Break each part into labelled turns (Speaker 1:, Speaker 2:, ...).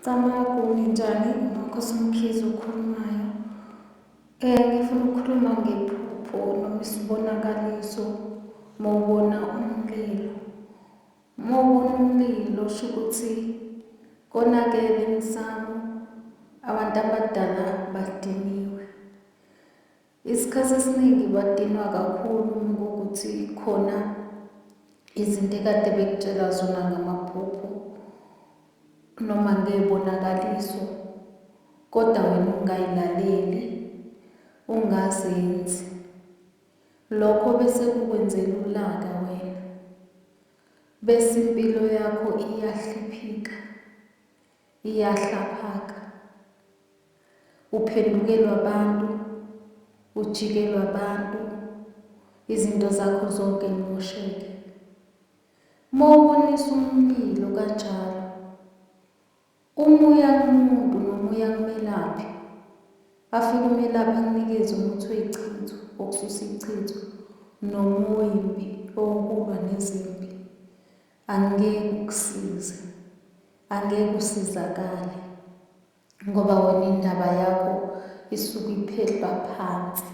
Speaker 1: Camagu, nginjani? UNonkosi Mkhize okhulumayo. Ngifuna ukukhuluma ngephupho noma isibonakaliso uma ubona umlilo. Uma ubona umlilo usho ukuthi konakele emsamo, abantu abadala badiniwe. Isikhathi esiningi badinwa kakhulu uma kuwukuthi khona izinto ekade bekutshela zona ngamaphupho noma ngey'bonakaliso kodwa wena ungayilaleli ungazenzi lokho bese kukwenzela ulaka wena bese impilo yakho iyahliphika iyahlaphaka, uphendukelwa abantu, ujikelwa abantu, izinto zakho zonke yimosheke. Uma ubonisa umlilo kanjalo, umuya kumuntu nomuya kumelaphi, afike umelaphi akunikeze umuthi oyichitho, okususa ichitho, nomuyi mbi owokulwa nezimpi. Angeke ukusize. Angeke usizakale ngoba wena indaba yakho isuke iphehlwa phansi.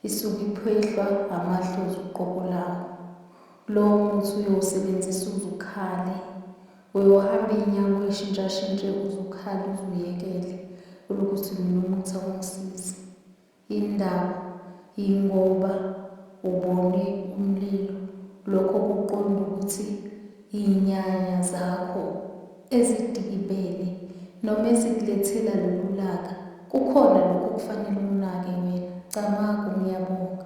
Speaker 1: Isuke iphehlwa amadlozi uqobo lawo. Lowo muthi uyowusebenzisa uze ukhale. Uyohamba iy'nyawo uyishintshashintshe uze ukhale uze uyekele ukuthi mina umuthi awungisizi. Indaba, Yingoba ubone umlilo lokho kuqonda ukuthi inyanya zakho ezidikibele noma ezikulethela lolu laka kukhona lokho okufanele ukunake wena? Camagu, Ngiyabonga.